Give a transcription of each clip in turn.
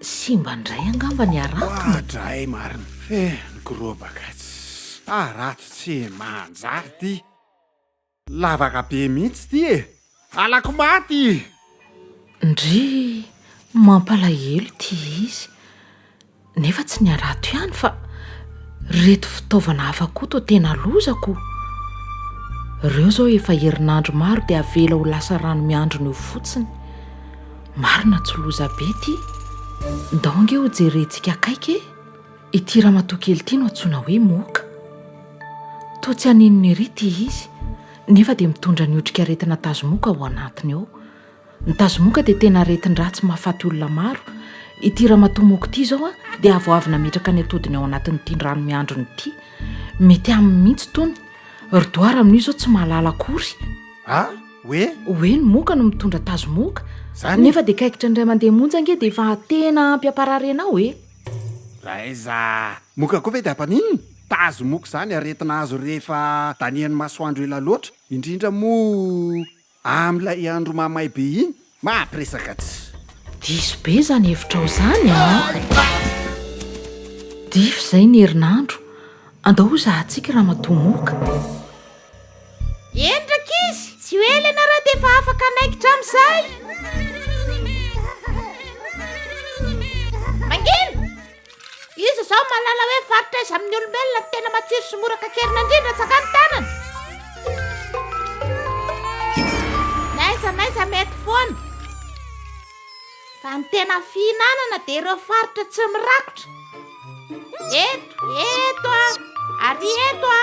Simba indray angamba ny harato no. Ohatra ay marina. Feh ny gorobaka tsy harato tsy manjary ty. Lavaka be mihitsy ty e. Halako maty i. Ndrii mampalahelo ity izy. Nefa tsy ny harato ihany fa reto fitaovana hafa koa toa tena lozako. Reo zao efa herinandro maro dia avela ho lasa rano miandrona eo fotsiny. Marina tsy loza be ity. Ndao ange ho jerentsika akaiky e! Ity ramatoa kely ity no antsoina hoe Moka. Toa tsy haninona ery ity izy, nefa dia mitondra ny otrikaretina tazomoka ao anatiny ao. Ny tazomoka dia tena aretin-dratsy mahafaty olona maro. Ity ramatoa Moka ity izao dia avoavo nametraka ny atodiny ao anatin'ity rano miandrony ity. Mety aminy mihitsy itony. Ry doara amin'io izao tsy mahalala akory. A! Hoe? Hoe ny moka no mitondra tazo moka. Zany? Nefa dia kaikitra ny ray aman-dreny monja ange dia efa tena ampy ampararena ao e. Raha aiza moka koa ve dia ampaninona? Tazo moka izany aretina azo rehefa danihan'ny masoandro ela loatra, indrindra moa amin'ilay andro mahamay be iny. Mahatrisaka tsy. Diso be izany hevitrao izany a! Difa izay ny herinandro, andao hozahantsika i Ramatoa Moka. Eny rankizy, tsy ho ela ianareo dia efa afaka hanaikitra amin'izay. Mangina! Iza izao mahalala hoe faritra aiza amin'ny olombelona no tena matsiro sy mora kakerina indrindra tsakany tanana? Naiza naiza mety foana. Fa ny tena fihinanana dia ireo faritra tsy mirakotra. Eto, eto a, ary eto a.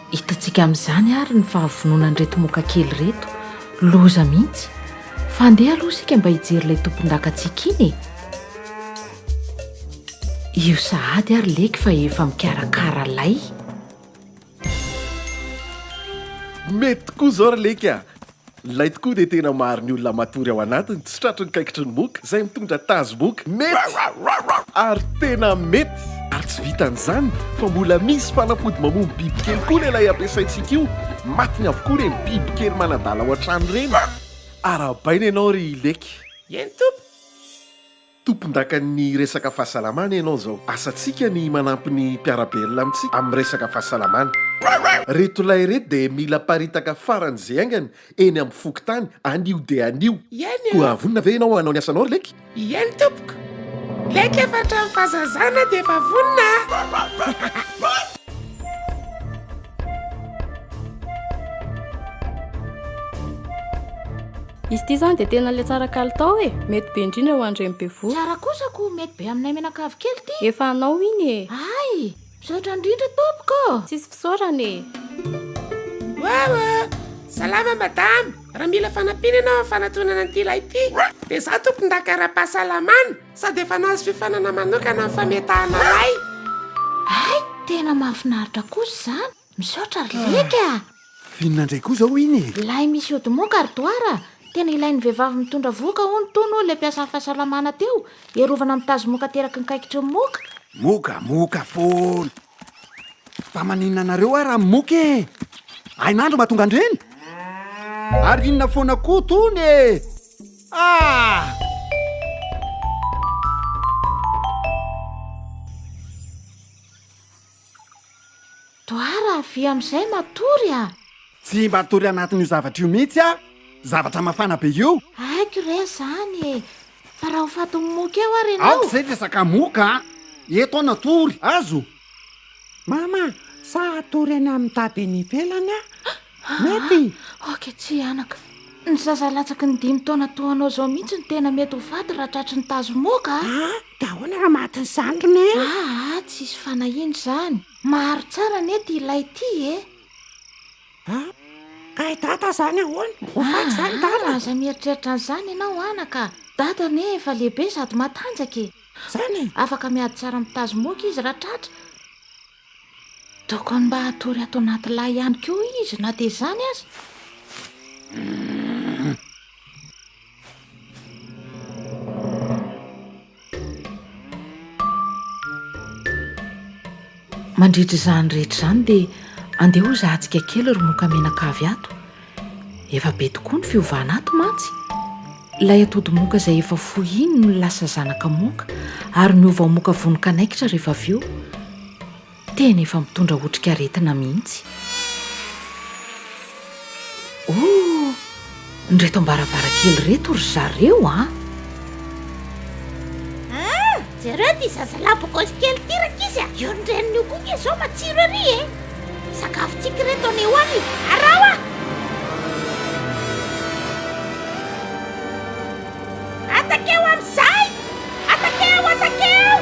Hitantsika amin'izany ary ny fahavononan'ireto moka kely ireto. Loza mihitsy. Fa andeha aloha isika mba hijery ilay tompondakantsika iny e! Io sahady ary leky fa efa mikarakara lay. Mety tokoa izao ry leky a! Ilay tokoa dia tena maro ny olona matory ao anatiny, tsy tratry ny kaikitry ny moka, izay mitondra tazo moka. Mety! Ary tena mety! Ary tsy vitan'izany fa mbola misy fanafody mamono bibikely koa ilay ampiasaintsika io, matiny avokoa ireny bibikely manadala ao an-trano ireny. Arahabaina ianao ry Leky. Eny Tompo! Tompondakan'ny resaka fahasalamana ianao izao. Asantsika ny manampy ny mpiara-belona amintsika amin'ny resaka fahasalamana. Ireto lahy ireto dia mila paritaka faran'izay haingana eny amin'ny fokontany anio dia anio. Eny e! Koa vonona ve ianao hanao ny asanao ry Leke? Ieny tompoko! Leke efa hatramin'ny fahazazana dia efa vonona aho. Izy ity izany dia tena ilay tsara kalitao e! Mety be indrindra ho an'ireny bevohoka. Tsara kosa ko mety be aminay mianakavy kely ity. Efa anao iny e! Hay! Misaotra indrindra tompoko ô! Tsisy fisaorana e! Wawa! Salama madame! Raha mila fanampiana ianao amin'ny fanatonana an'ity ilay ity dia izaho tompondaka ara-pahasalamana sady efa nahazo fiofanana manokana amin'ny fametahana lay. Hay! Tena mahafinaritra kosa izany! Misaotra ry Leke a! Inona indray koa izao iny e? Ilay misy ody moka ry Doara, tena ilain'ny vehivavy mitondra vohoka hono tony hoy ilay mpiasan'ny fahasalamana teo, hiarovana amin'ny tazomoka ateraky ny kaikitry ny moka. Moka, moka foana. Fa maninona anareo ary amin'ny moka e? Hainandro mahatonga an'ireny? Ary inona foana koa tony e? Ah! Doara, avia amin'izay matory a! Tsy mba tory anatin'io zavatra io mihitsy aho! Zavatra mafana be io! Haiko re izany e! Fa raha ho fatin'ny moka eo ary ianao! Aoka izay resaka moka a! Eto aho natory, azo! Mama, sa hatory any amin'ny tady eny ivelany aho? Mety! Ok, tsy hihanaka. Ny zaza latsaky ny dimy taona toa anao izao mihitsy no tena mety ho faty raha tratry ny tazo moka. Ah, dia ahoana raha maty ny zandriny e? Ah, ah, tsy hisy fanahiana izany. Maharo tsara anie ity ilay ity e. Ah, ka i dada izany ahoana? Ho faty ah, izany dada? Ah, aza mieritreritra an'izany ianao anaka. Dada anie efa lehibe sady matanjaka e. Izany e? Afaka miady tsara amin'ny tazo moka izy raha tratra. Tokony mba hatory ato anaty lay ihany koa izy na dia izany aza. Mandritra izany rehetra izany dia andeha ho zahantsika kely ry moka menaka avy ato. Efa be tokoa ny fiovana ato mantsy. Ilay atody moka izay efa fohy iny no lasa zanaka moka ary miova ho moka vonon-kanaikitra rehefa avy eo. Tena efa mitondra otrikaretina mihitsy. Oh! Ny reto am-baravarankely reto ry zareo an! Ah! Jereo ty zazalahy bogosy kely ty rankizy a! Io ny reniny io koa nge zao matsiro ery e! Sakafontsika reto anie hoany e! Araho a! Atakeo amizay! Atakeo! Atakeo!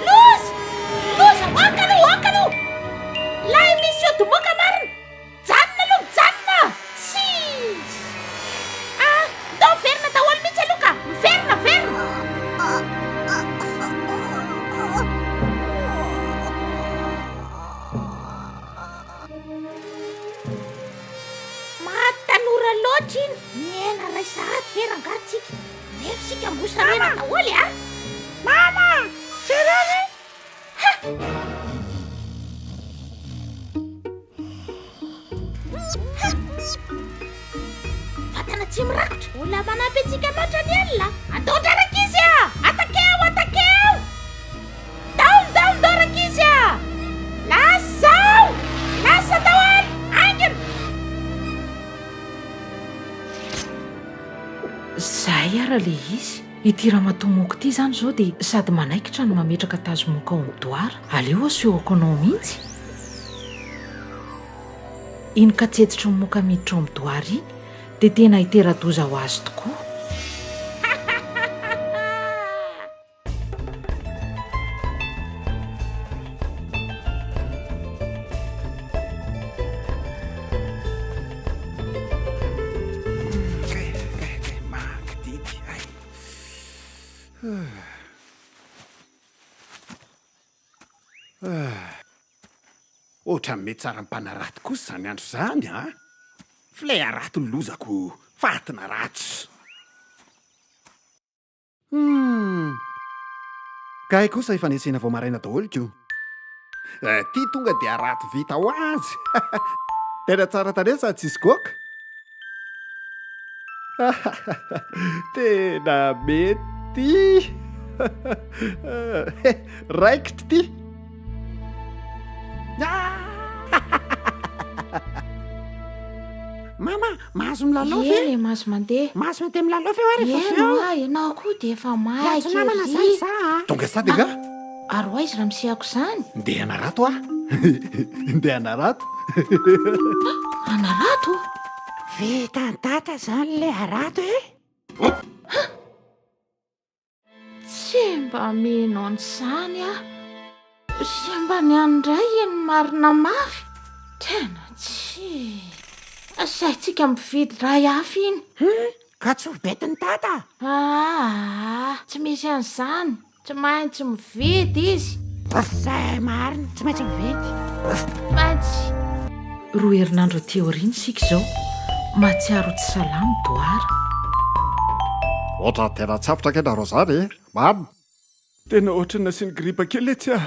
Loza! Loza! Ôka aloha! Ôka aloha! Lay misy ody moka marina! Mijanona aloha mijanona a! Tsis! Ah! Ndao miverina daholo mihitsy aloha ka! Miverina, miverina! Maty tanora loatra iny! Nihena iray sahady ve rangaha tsika? Nefo isika mbola sarena daholo e a! Mama! Jereo re! Vatana tsy mirakotra. Mbola manampy antsika loatra ny alina. Andaondra rankizy a! Atakeo, atakeo! Daolo, daolo, dao rankizy a! Lasa zao! Lasa tao any! Aingana! Zay ara le izy. Ity ramatoa moka ity izany izao dia sady manaikitra no mametraka tazo moka ao amin'ny doara. Aleo asehoako anao mihitsy. Iny katsetsitry ny moka miditra ao amin'ny doara iny dia tena hitera-doza ho azy tokoa. Ohatran'ny metsara mpanarato kosa izany andro izany a! Ah. Filay harato ny lozako, faty na ratsy. Hmm. Kay kosa efa nesena vao maraina daholo ko. Eh, ty tonga dia harato vita ho azy. Tena tsara tarehy sady tsisy goaka. Tena mety ty Raikitra ty Mama, mahazo milalao ve? Ie, mahazo mandeha. Mahazo mandeha milalao ve hoe rehefa avy eo? Ie, ianao koa dia efa maika ery. Tonga sady angaha? Ary ho aiza raha misehako izany? Ndeha hanarato aho! Ndeha hanarato! Hanarato? Vitan'i Tata izany ilay harato e! Tsy mba mino an'izany aho! Tsy mba ny an'ny Ray ny marina mafy! Tena tsy! Asaintsika mividy iray hafa iny! Ka tsy ho betin'i Tata? Aa! Tsy misy an'izany! Tsy maintsy mividy izy. Zay marina, tsy maintsy mividy. Tsy maintsy. Roa herinandro aty aoriana isika izao, mahatsiaro ho tsy salama Doara. Ohatran'ny tena tsapitra ange nareo izany e! Mamy! Tena ohatran'ny nasiany gripa kely etsy ah!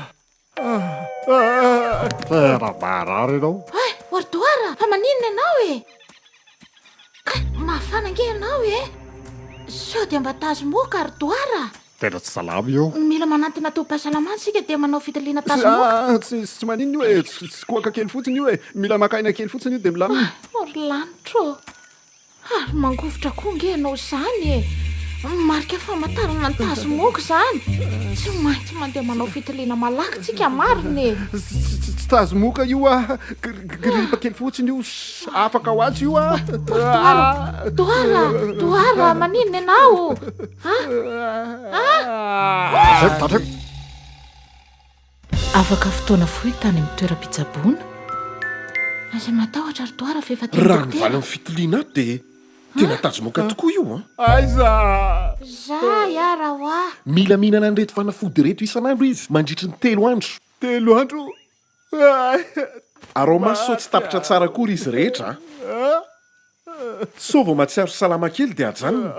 Tena marary ianao. Ay, Wardoara, fa maninona ianao e? Ay, mafana ange ianao e. Sao dia mba tazomoka, Ardoara. Tena tsy salama io. Mila manantona tobim-pahasalamana isika dia manao fitiliana tazomoka. Ah, tsy tsy maninona io e. Tsy tsy koaka kely fotsiny io e. Mila maka aina kely fotsiny io dia milamina. Ay, ry lanitro. Ary mangovitra koa nge ianao izany e! Marika famantarana ny tazomoka izany! Tsy maintsy mandeha manao fitiliana malaky tsika marina e! Tsy tazomoka io a! Gripa kely fotsiny io, afaka ho azy io a! Doara! Doara! Doara! Maninona ianao? Ah! Ah! Afaka fotoana fohy tany amin'ny toeram-pitsaboana. Aza matahotra ry Doara fa efa teny dokotera. Raha ny valin'ny fitiliana ato dia tena tazomoka tokoa io an! Aiza? Za ya Rawa. Mila mihinana an'ireto fanafody ireto isan'andro izy mandritry ny telo andro. Telo andro? Araho-maso sao tsy tapitra tsara akory izy rehetra an! Sao vao mahatsiaro salama kely dia ajanony.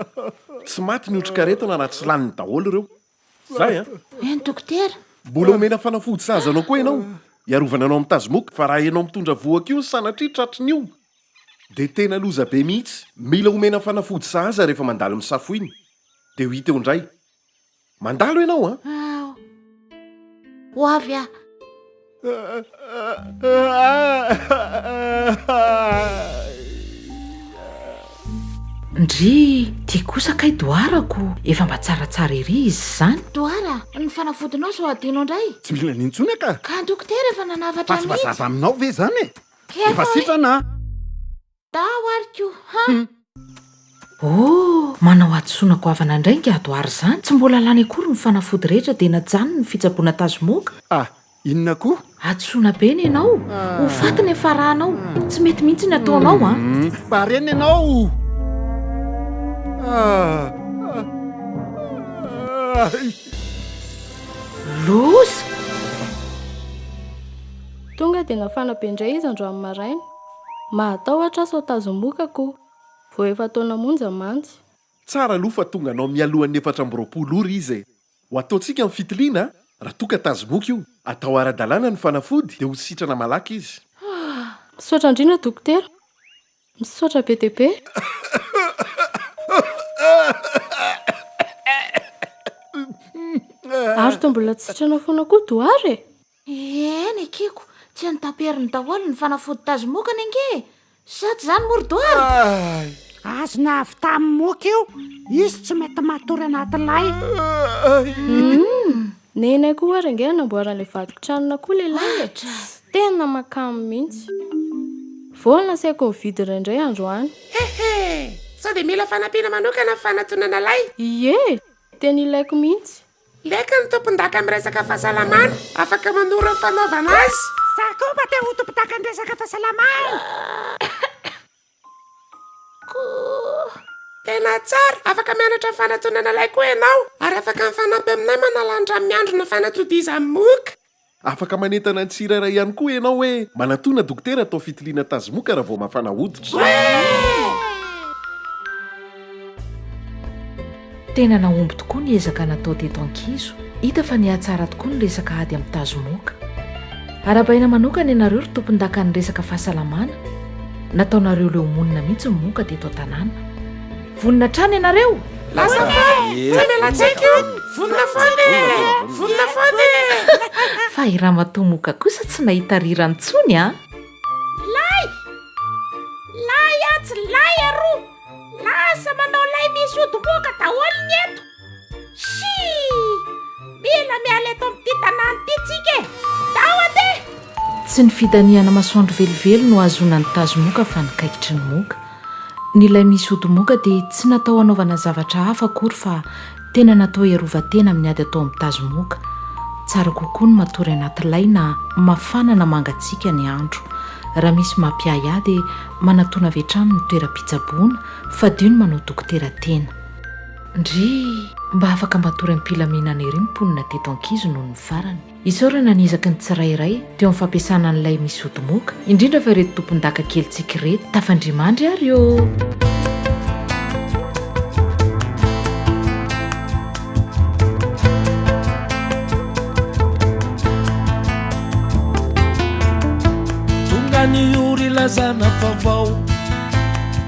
Tsy maty ny otrikaretina na tsy laniny daholo ireo. Zay an! Eny dokotera! Mbola omena fanafody sahaza anao koa ianao, hiarovana anao amin'ny tazomoka, fa raha ianao mitondra vohoka io sanatria tratry ny io dia tena loza be mihitsy. Mila omena fanafody sahaza rehefa mandalo ny safoiny, dia ho hita eo indray. Mandalo ianao an! Ao! Ho avy aho! Ndry, ty kosa kay doharako efa mba tsaratsara ery izy izany. Dohara, ny fanafodinao sao adino indray. Tsy mila an'iny intsony aka. Ka ny dokotera efa nanavatra an'iny. Fa tsy mazava aminao ve izany e? Efa sitrana a! Tao ary ko ha! Oh! Manao hadisoana goavana indray ingahy Doara izany, tsy mbola lany akory ny fanafody rehetra dia najanony ny fitsaboana tazomoka. Ah! Inona koa? Hadisoana be ny anao! Ho faty ny hafarahanao! Tsy mety mihitsy ny ataonao an! Barena ianao! Loza! Tonga dia nafana be indray izy androany maraina. Mahatahotra sao tazomoka ko. Vao efa taona monja mantsy. Tsara aloha fa tonga anao mialohan'ny efatra amby roapolo ora izy e! Ho ataontsika ny fitiliana a! Raha toa ka tazomoka io, atao ara-dalàna ny fanafody dia ho sitrana malaky izy. Misaotra indrindra dokotera! Misaotra be dia be! Ary toa mbola tsy sitrana foana koa Doara e! Eny ekeko, tsy an'i Daperiny daholo ny fanafody tazomokany ange e! Sa tsy izany moa ry Doara? Ay! Azony avy tamin'ny moka io, izy tsy mety matory an'atilay. Ay! Neny akoho ary ange no namboaran'ilay vadin-tranona koa lehilahy e! Tsy tena makamo mihitsy. Vao nasaiko nividy indraindray androany. Hehe! Sao dia mila fanampiana manokana ny fanatonana lay? Ie! Tena ilaiko mihitsy. Leka ny tompondaka amin'ny resaka fahasalamana, afaka manoro ny fanaovana azy. Za koa mba te ho tompondaka amin'ny resaka fahasalamana. Koa. Tena tsara, afaka mianatra ny fanatonana lay koa ianao, ary afaka mifanampy aminay manala ny rano miandrona fanatodizan'ny moka. Afaka manentana ny tsirairay ihany koa ianao hoe manatòna dokotera atao fitiliana tazimoka raha vao mafana hoditra. Tena nahomby tokoa ny ezaka natao teto Ankizo. Hita fa nihatsara tokoa ny resaka ady amin'ny tazimoka. Arahabaina manokana ianareo ry tompondakan'ny resaka fahasalamana, nataonareo leo monina mihitsy ny moka teto an-tanàna. Vonona hatrany ianareo? Lasa fa e! Tsy any latsaiky io! Vonona foana e! Vonona foana e! Fa i Ramatoa Moka kosa tsy nahita rirany intsony an! Lay! Lay atsy, lay aroa! Lasa manao lay misy ody moka daholo ny eto! Shii! Mila miala eto amin'ity tanàna ity tsika e! Ndao andeha! Tsy ny fidanihana masoandro velively no ahazoana ny tazo moka fa ny kaikitry ny moka. Ny lay misy ody moka dia tsy natao hanaovana zavatra hafa akory fa tena natao hiarovan-tena amin'ny ady atao amin'ny tazo moka. Tsara kokoa ny matory anaty lay na mafana na mangatsiaka ny andro. Raha misy mampiahy ahy dia manatona avy hatrany ny toeram-pitsaboana, fadio ny manao dokotera tena. Ndrii! Mba afaka matory am-pilaminana ery ny mponina teto Ankizo noho ny farany. Isaorana ny ezaky ny tsirairay teo amin'ny fampiasana an'ilay misy ody moka, indrindra fa ireto tompon-daka kelintsika ireto. Tafandrimandry ary ô! Tonga ny ora ilazana vaovao.